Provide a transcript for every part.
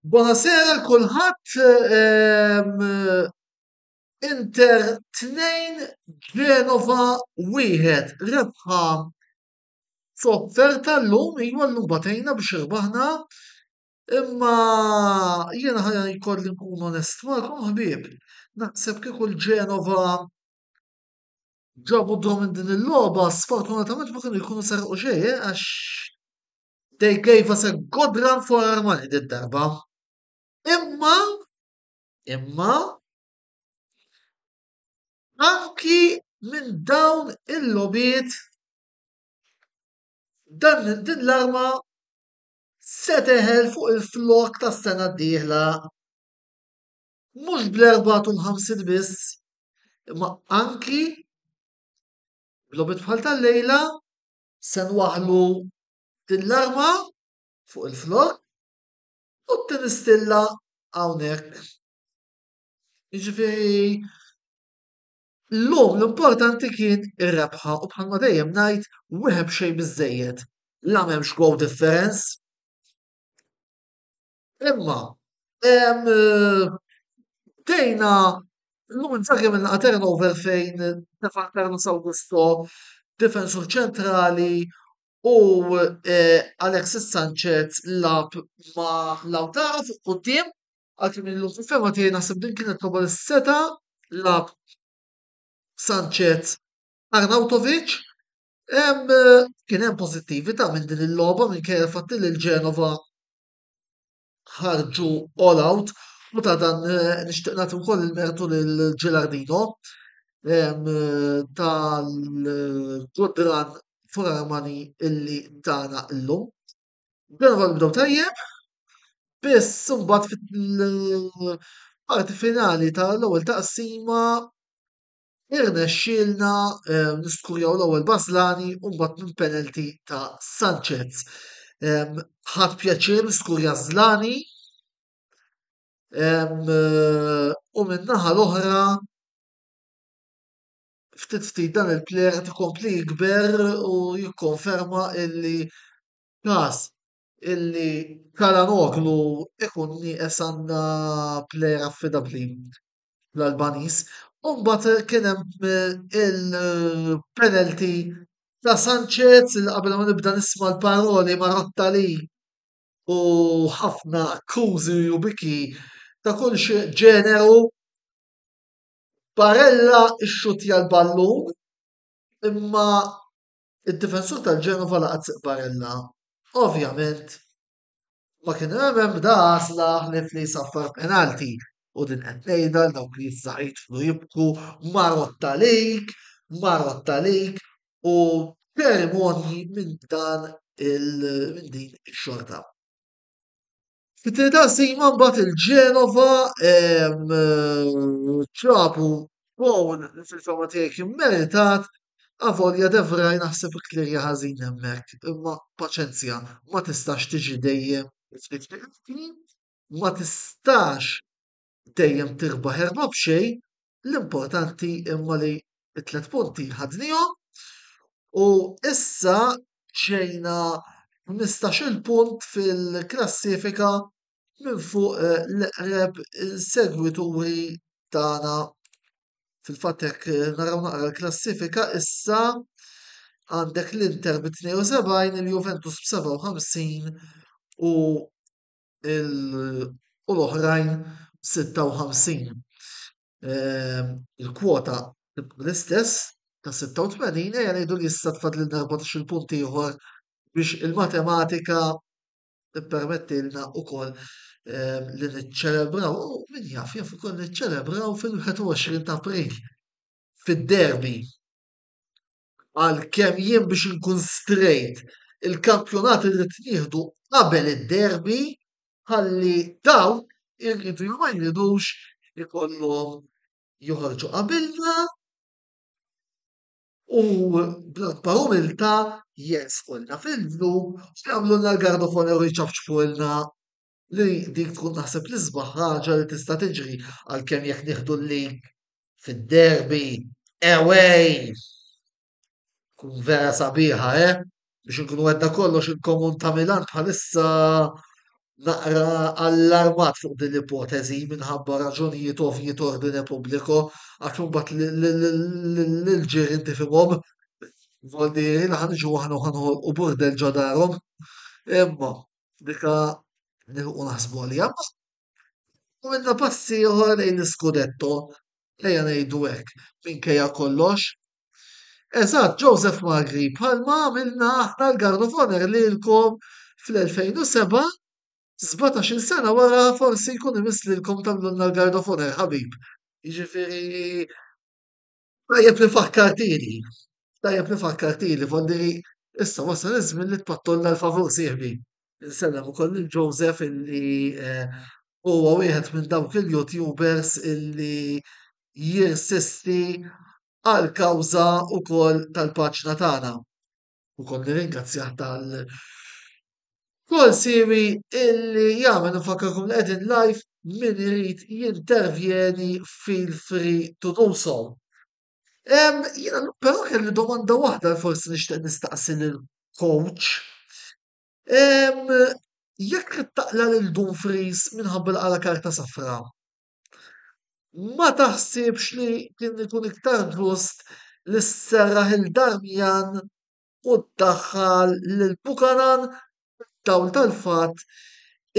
Buonasera l kulħadd ehm, Inter 2 Genova 1 rebħa sofferta llum iva llum batejna biex irbaħna Imma jiena ħa jkolli nkun onest magħkom ħbieb, naħseb kieku l-Genova ġabu draw minn din il-logħba sfortunatament ma kienu jkunu serqu xejn eh, għax they gave us a good run for our money din darba. Imma imma anki minn dawn il-logħbiet dan din l-arma se teħel fuq il-flokk tas-sena d-dieħla. Mhux bl-54 biss, imma anki bl-obit bħal tal-lejla se nwaħlu din l-arma fuq il-flokk u t-tinistilla hawnhekk. Jiġifieri Illum l-importanti kien ir-rebħa u bħalma dejjem ngħid wieħed b'xejn biżżejjed la m'hemmx goal difference imma bdejna illum Inzaghi għamilna turnover fejn tefa' Carlos Augusto difensur ċentrali u Alexis Sanchez lagħab ma' Lautaro fuq quddiem Għalkemm jien fil-fehma tiegħi naħseb din kienet logħba li seta' lagħab Sanchez Arnautovic. Hemm kien hemm pożittività minn din il-logħba minkejja l-fatt li l-Genova ħarġu all out u ta' dan nixtieq nagħti wkoll il-mertu lil Gilardino tal-ġudran Furaramani illi tana llum. Dejjem kont nibdew tajjeb, biss imbagħad fil-parti finali tal-ewwel taqsima irnexxielna niskurjaw l-ewwel bażlani u mbagħad minn penalty ta' Sanchez. Ħadt pjaċir niskurja żlani u min-naħa l-oħra ftit ftit dan il-plen qed ikompli jikber u jikkonferma illi każ illi Calhanoglu ikun nieqes għandna plejer affidabbli l-Albaniż. U mbagħad kien hemm il-penalty ta' Sanchez li qabel ma nibda nisma' l-paroli Marotta li u ħafna akkużi u biki ta' kull xi ġeneru Barella xxuttja l-ballun imma id-difensur tal-Genova laqat siq Barella. Ovvjament ma kien hemm ebda għażla ħlief li jsaffar penalti u din qed ngħidha għal dawk li issa jidħlu jibku marotta lejk, marotta lejk u ċerimonji minn dan minn din ix-xorta. Fit-tieni taqsima mbagħad il-Ġenova ġabu gowl li fil-fehma tiegħi kien meritat avolja de Vrij naħseb ikklirja ħażin hemmhekk imma paċenzja ma tistax tiġi dejjem ftit ftit ħin, ma tistax dejjem tirbaħ erba' b'xejn, l-importanti imma li t-tlet punti ħadnihom u issa ġejna 15-il punt fil-klassifika minn fuq l-eqreb insegwituri tagħna. Fil-fatt jekk naraw naqra l-klassifika issa għandek l-Inter bi 72, il-Juventus b'57 u u l-oħrajn 56. Il-kwota l-istess ta' 86 ejja ngħidu li issa tfadlilna 14 punt ieħor biex il-matematika tippermettilna wkoll li niċċelebraw u min jaf jaf ukoll niċċelebraw fil-21 ta' April fid-derby. għal kemm jien biex inkun straight, il-kampjonat irid nieħdu qabel id-derby ħalli dawn iridu jew ma jridux ikollhom joħorġu qabilna u bl-akbar umiltà jersqulna fil-blu u jagħmlulna l-garba f'għonor u jċafċfulna li dik tkun naħseb l-isbaħ ħaġa li tista' tiġri għalkemm jekk nieħdu l-lig fid-derby away tkun vera sabiħa eh biex inkunu għedna kollox il-komun ta' Milan bħalissa naqra allarmat fuq din l-ipoteżi minħabba raġunijiet ovvji t'ordine pubbliku għax imbagħad l-ġirien tifhimhom Voldi ħanġu aħna u ħanħolqu burdel ġo darhom. Imma Dika nilħqu naħsbu għaliha. Għamilna passi oħra lejn l-iskudetto, ejja ngħidu hekk, minkejja kollox. Eżatt, Joseph Magri, bħalma għamilna aħna l-Guard of Honor lilkom fl-2007, 17 sena wara forsi jkun imiss lilkom tagħmlulna l-Guard of Honor, ħabib. Jiġifieri Tajjeb li fakkartini, tajjeb li fakkartini, fondi li issa wasal iż-żmien li tpattolna l-favur sieħbi. Insellem ukoll lil Joseph illi eh, huwa wieħed minn dawk il-YouTubers illi jirsisti għal kawża ukoll tal-paġna tagħna. u kont nirringrazzjah tal kull siwi illi jagħmel nfakkarkom li qegħdin live min irid jintervjeni feel free to do so. Um, jina, pero kelli domanda waħda li forsi nixtieq nistaqsi l-coach. Um, jekk taqla lil Dumfries minħabba l-għala karta safra, Ma taħsibx li kien ikun iktar ġust li sserraħ 'il Damian u ddaħħal lil Buchanan fid-dawl tal-fatt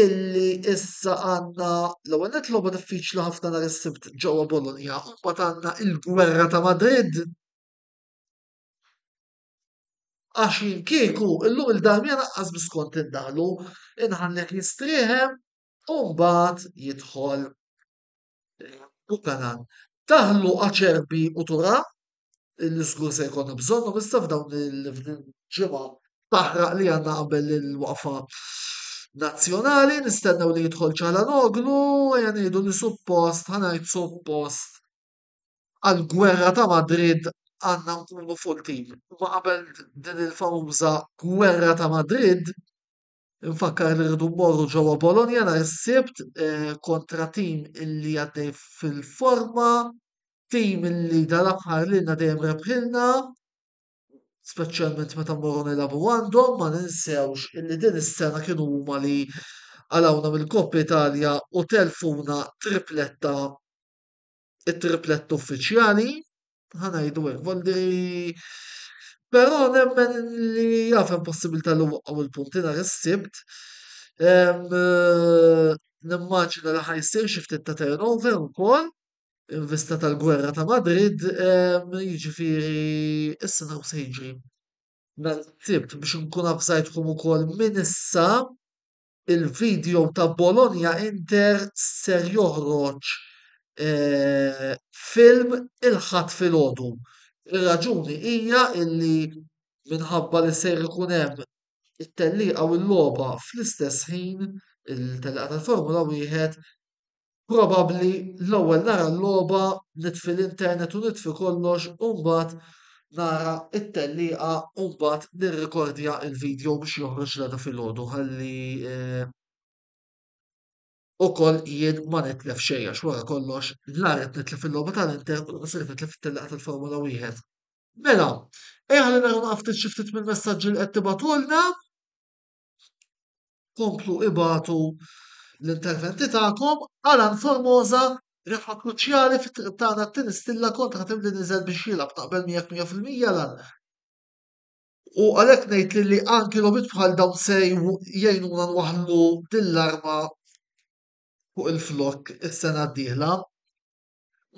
illi issa għandna l-ewwel nett logħba diffiċli ħafna nhar is-Sibt ġewwa Bologna u mbagħad għandna l-gwerra ta' Madrid? Għax jien kieku llum 'il Damian anqas biss kont indaħħlu, inħallih jistrieħem u mbagħad jidħol Buchanan. Daħlu Acerbi u Tura li żgur se jkollna bżonnhom issa f'dawn il-ġimgħa taħraq li għandna qabel il-waqfa nazzjonali, nistennew li jidħol ċalanoglu, ejja ngħidu li suppost, ħanajt suppost għal-gwerra ta' Madrid għandna nkunu full team. Ma qabel din il-famuża gwerra ta' Madrid, Infakkar li rridu mmorru ġewwa Bologna nhar is-Sibt eh, kontra tim illi għaddej fil-forma, tim illi dal-aħħar lilna dejjem rebħilna, speċjalment meta mmorru nilagħbu għandhom, ma ninsewx illi din is-sena kienu huma li għalawna mill-Koppa Italja u telfuna tripletta it-triplet uffiċjali, ħanajdu hekk, volli però nemmen li jaf hemm possibilità li waqgħu l-punti nhar is-sibt. Eh, nimmaġina li ħajsir xi ftit ta' turnover ukoll in vista tal-gwerra ta' Madrid, jiġifieri issa naw se jiġri. Nhar is-sibt biex nkun avżajtkom ukoll minn issa il-video ta' Bologna Inter ser joħroġ film il-Ħadd filgħodu. Ir-raġuni hija illi minħabba li ser ikun hemm it-tellieqa u l-logħba fl-istess ħin, il-tellieqa tal-Formula Wieħed, probabbli l-ewwel nara l-logħba, nitfi l-internet u nitfi kollox u mbagħad nara t-tellieqa u mbagħad nirrikordja l-video biex joħroġ l-għada filgħodu ħalli eh, ukoll jien ma nitlef xejn għax wara kollox la qed nitlef fil-logħba tal-Inter u qed nitlef fit-tellaqgħa tal-Formula Wieħed. Mela, ejja ħalli nagħmlu ftit xi ftit mill-messaġġi li qed tibgħatulna. komplu ibatu l-interventi tagħkom għal Ann Formosa rebħa kruċjali fit-triq tagħna t-tieni stilla kontra tim li niżel biex jilgħab naqbel miegħek 100% lan. U għalhekk ngħid li, li anki logħbiet bħal dawn se jgħinuna nwaħħlu din l-arma fuq il-flok is-sena d-dieħla.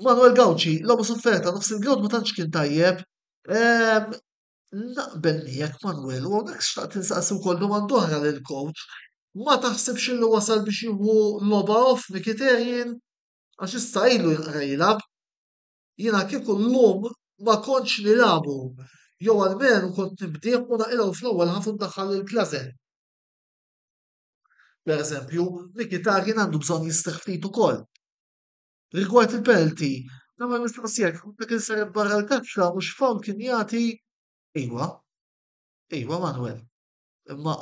Manuel Gawċi, logħba sofferta nofs il-grawd ma tantx kien tajjeb. Ehm, Naqbel miegħek Manwel u hawnhekk xtaqt insaqsi wkoll domanda oħra lil coach. Ma taħsibx illi wasal biex jieħu logħba off Mkhitaryan? Għax issa ilu jinqra jilgħab. Jiena kieku llum ma kontx nilagħbu jew almenu kont nibdih u naqilgħu fl-ewwel ħaf u ndaħħal lil Klazze. Pereżempju, Mkhitaryan għandu bżonn jistrieħ ftit ukoll. Rigward il-penalty, nagħmel mistoqsija, kieku dak inseret barra l-kaxxa mhux fawl kien jagħti? Iwa. Iwa Manwel. Imma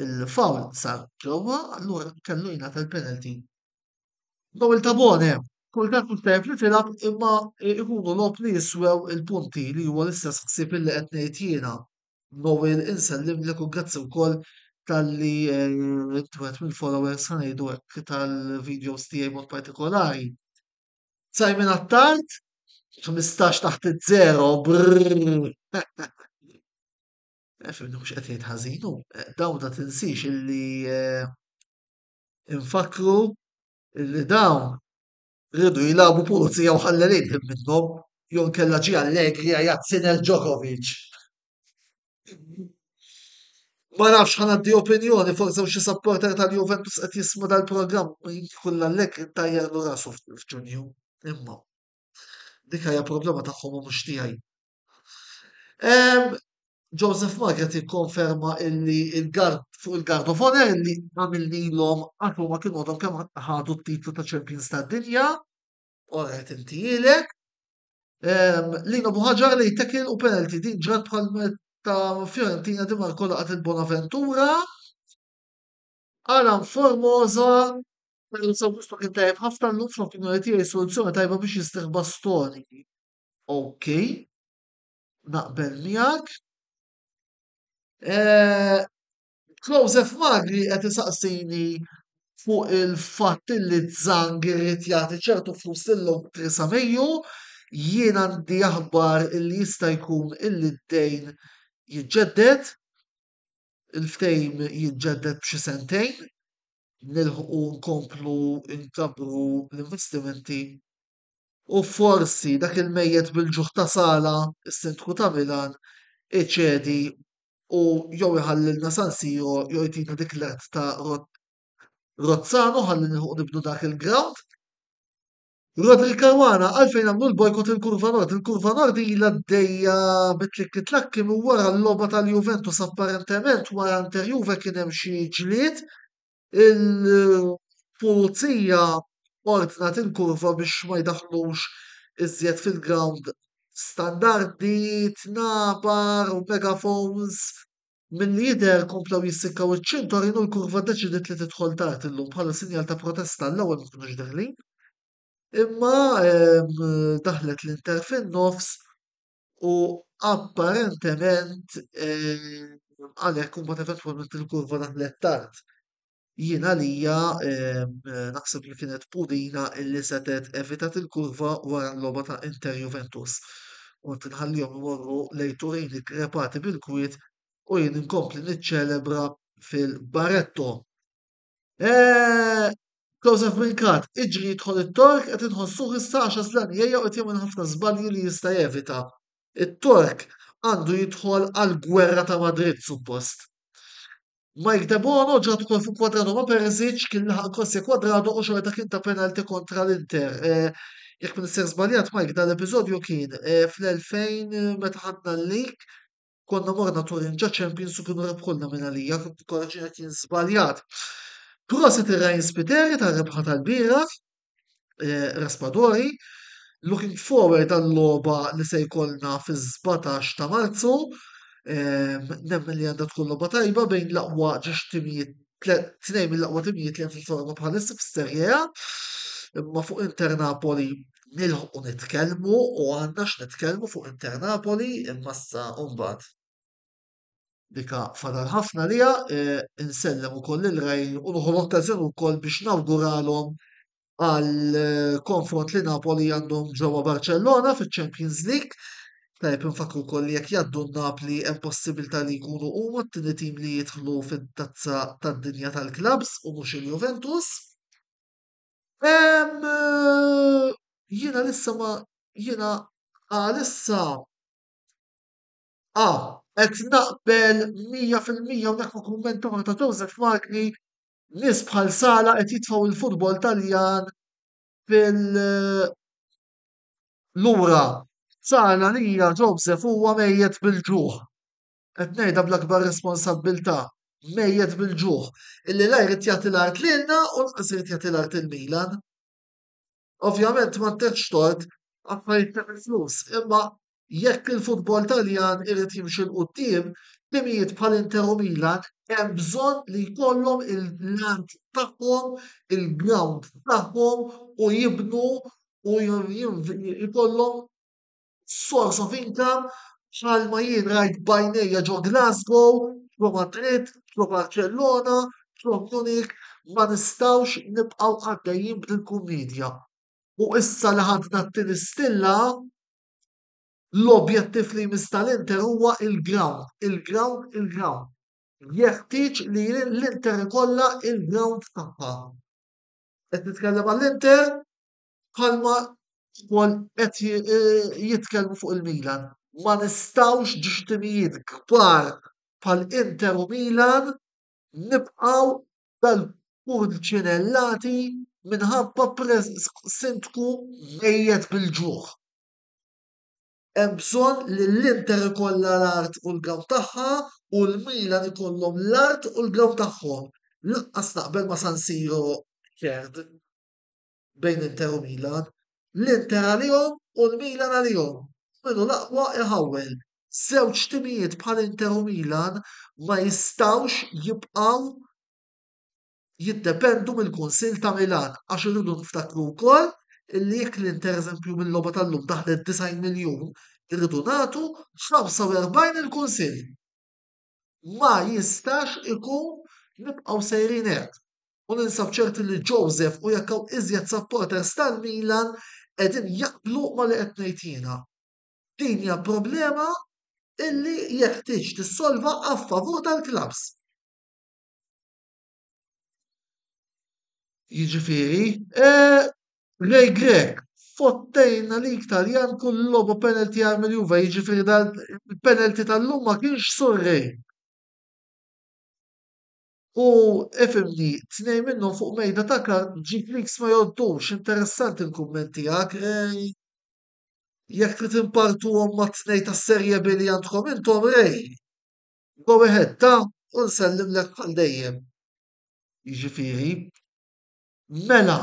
il-fawl sar ġewwa, allura kellu jingħata l-penalty. Daw il-tabone, kultant mhux tajjeb li tilgħab imma ikunu logħob li jiswew il-punti li huwa l-istess ħsieb li qed ngħid jiena. Noel insellimlek u grazzi wkoll talli inti wieħed mill-followers se ngħidu hekk tal-videos tiegħi mod partikolari. Simon Attard, 15 taħt iż-żero, brrrr. Efimni mhux qed jgħid ħażin hu, dawna tinsiex illi eh, infakru illi dawn Riedu jilagħbu pulizija u ħallew idħil minnhom jew inkella ġie Allegri għajjat Sinner Djokovic. Ma nafx ħa ngħaddi opinjoni forsi hawn xi supporter tal-Juventus qed jismu dal-programm jkun l-Allegri ntajjar rasu f'Ġunju. Imma dik hija problema tagħhom u mhux tiegħi. Joseph Maget jikkonferma illi il-gard fuq il-gard of honor illi għamil lilhom għax huma kienu għadhom kemm ħadu t-titlu ta' champions tad-dinja. Orret inti ilek. Lino Buħaġar li jtekil u penalty din ġrat bħal ta' Fiorentina di Marco laqat il-Bonaventura. Alan Formosa Sabusto kien tajb ħafna l-lum fl-opinjoni tiegħi soluzzjoni tajba biex jistiħ bastoni. OK, naqbel miegħek. Eh, Klose Magri qed isaqsini fuq il-fatt li Zang irid jagħti ċertu flus lil Theresa Mayju, jien għandi aħbar li jista' jkun illi d-dejn jiġġedded, il-ftejm jiġġedded b'xi sentejn, nilħqu nkomplu nkabru l-investimenti u forsi dak il-mejjet bil-ġuħ ta' sala, is-Sindku ta' Milan, iċedi u jew iħallilna San Siro jew jtina dik l-għedt ta' Rozzano ħalli nilħuq nibnu dak il-ground. Rodri Caruana għalfejn għamlu l-bojkot il-kurva nord, il-kurva nord ilha għaddejja bit-tlikki tlakki minn wara l-logħba tal-Juventus apparentement wara Inter Juve kien hemm xi ġlied Il-pulizija ordnat il-kurva biex ma jdaħħlux iżjed fil-grawnd standardi, tnabar u megafons. Milli jidher komplew jissikkaw iċ-ċintorin u l-kurva ddeċidiet li tidħol tard illum bħala sinjal ta' protesta għall-ewwel ma kinux deħlin. Imma daħlet l-Inter fin-nofs U apparentement għalhekk huma eventwalment il-kurva daħlet tard. Jien għalija naħseb li kienet Pudina illi setet evitat il-kurva wara l-logħba ta' Inter Juventus. U tinħallihom imorru lejn Turini krepati bil-kwiet u jien inkompli niċċelebra fil-Baretto. Eh, Joseph Minkat, iġri jidħol it-Tork qed inħossuh issa għax Aslan jgħejja u qed jagħmel ħafna żbalji li jista' jevita. It-Tork għandu jidħol għall-gwerra ta' Madrid suppost. Mike Debono ġat ukoll fuq Kwadrado ma' Perisic kien laħaq Kosja Kwadrado u xorta kien ta' penalti kontra l-Inter. Eh, jekk minn ser żbaljat Mike dan l-episodju kien eh, fl-2000 meta ħadna l-lig konna morna Turin ġa champions u kienu rebħulna minn għalija, korreġina kien żbaljat. Prosit ir-Ryan Spiteri ta' rebħa tal-bieraħ, eh, Raspadori, looking forward għall-logħba li se jkollna fiż-17 ta' Marzu, eh, nemmen li għandha tkun logħba tajba bejn l-aqwa ġex timijiet tnejn mill-aqwa timijiet li hemm fil-Forno bħalissa fis-Serie A, imma fuq Inter Napoli nilħqu nitkellmu u għandna x'nitkellmu fuq Inter Napoli imma issa mbagħad. Dika fadal ħafna liha, insellem ukoll il-rajn u nħu l-okkażjoni wkoll biex nawguralhom għal konfront li Napoli għandhom ġewwa Barcellona fiċ-Champions League. Tajb infakru wkoll li jekk jgħaddu Napli hemm possibilità li jkunu huma t-tieni tim li jidħlu fit-tazza tad-dinja tal-klabs u mhux il-Juventus. Hemm eh, jiena lissa ma jiena għalissa ah qed naqbel 100% u dak ma kumment ta' Joseph Magni Nies bħal Sala qed jitfgħu l-futbol Taljan fil- lura. Sala għalija Joseph huwa mejjet bil-ġuħ. Qed ngħidha bl-akbar responsabbiltà, mejjet bil-ġuħ. Illi la jrid jagħti l-art lilna u lanqas irid jagħti l-art il-Milan. Ovvjament ma ttieħx tort affarijiet ta' flus, imma jekk il-futbol Taljan irid jimxi l quddiem, timijiet bħal Inter u Milan hemm bżonn li jkollhom il-land tagħhom, il-ground tagħhom u jibnu u jkollhom source of income bħalma jien rajt b'għajnejja ġo Glasgow, ġo Madrid, ġo Barċellona, ġo Munich, ma nistgħux nibqgħu għaddejjin b'dil-kummedja. U issa li ħadna t-tieni stilla, l-objettiv li jmiss tal-Inter huwa il-ground, il-ground, il-ground. Jeħtieġ li l-Inter ikollha il-ground tagħha. Qed nitkellem għall-Inter bħalma wkoll qed jitkellmu fuq il-Milan. Ma nistgħux ġiex timijiet kbar bħal Inter u Milan nibqgħu dal-pulċinellati minħabba sindku mejjet bil-ġuħ. Hemm bżonn li l-Inter ikollha l-art u l-ground tagħha u l-Milan ikollhom l-art u l-ground tagħhom. Lanqas naqbel ma' San Siro Kerd. bejn Inter u Milan, l-Inter għalihom u l-Milan għalihom, u min hu l-aqwa iħawwel. Żewġ timijiet bħal Inter u Milan ma jistgħux jibqgħu jiddependu mill-Kunsill ta' Milan għax irridu niftakru wkoll illi jekk l-Inter eżempju mill-logħba tal-lum daħlet 90 miljun, irridu nagħtu 45 il-Kunsill. ma jistax ikun nibqgħu sejrin hekk u ninsab ċerti li Joseph u jekk hawn iżjed supporters tal-Milan qegħdin jaqblu ma' li qed ngħid jiena. Din hija problema illi jeħtieġ tissolva a favur tal-klabbs. Jiġifieri, eh, Ray Grech, fottejna lik Taljan kull logħba penalty għal mill-Juve, jiġifieri dal-penalty tal-lum ma kienx surrej. U ifhimni, tnejn minnhom fuq mejda ta' kart ġid leaks ma jgħoddux, interessanti l-kumment tiegħek, eh, jekk trid inpartuhom mat-tnejn tas-Serie B li għandkom intom, Ray. Go ahead ta u nsellimlek għal dejjem. Jiġifieri Mela,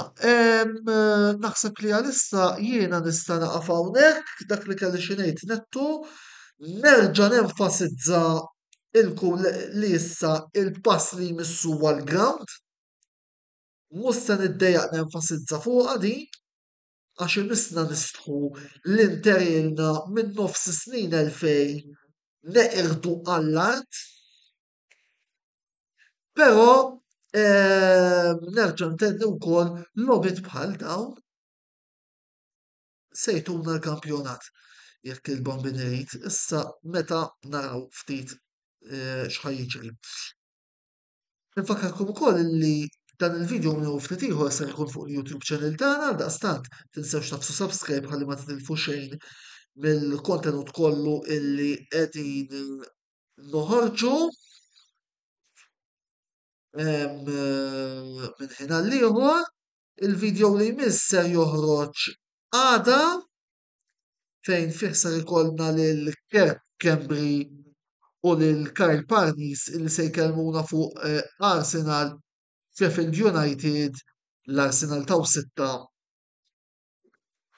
naħseb li għalissa jiena nista' naqaf hawnhekk dak li kelli xi ngħid nettu, nerġa' nenfasizza il-kull li issa il-pass li jmiss huwa l-ground, mhux se niddejjaq nenfasizza fuqha din, għax imissna nistħu li nterilna minn nofs is-snin 2000 neqirdu għall-art, però nerġa' ntenni wkoll logħbiet bħal dawn se jtuna l-kampjonat jekk il-Bambien irid, issa meta naraw ftit x'ħa jiġri. Infakkarkom ukoll li dan il-video u miegħu ftit ieħor ser ikun fuq il-YouTube channel tagħna għaldaqstant tinsewx tagħfsu subscribe ħalli ma titilfu xejn mill-kontenut kollu illi qegħdin noħorġu minn ħin għal ieħor. Il-video li jmiss ser joħroġ għada. fejn fih ser ikollna lil Kev Schembri u lil Kyle Parnis li se jkellmuna fuq eh, Arsenal, Sheffield United, l-Arsenal taw sitta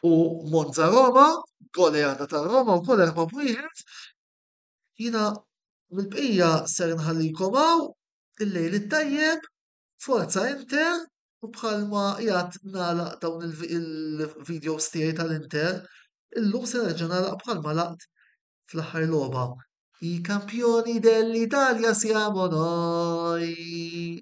u Monza Roma, goleada ta' Roma u kol erba' bwieħed. Jina mill-bqija ser nħallikom hawn il-lejl it-tajjeb Forza Inter, u bħalma jgħat nagħlaq dawn il-videos tiegħi tal-Inter, illum se nerġa' nagħlaq bħalma laqt fl-aħħar logħba. I kampjoni dell-Italja siamo noi!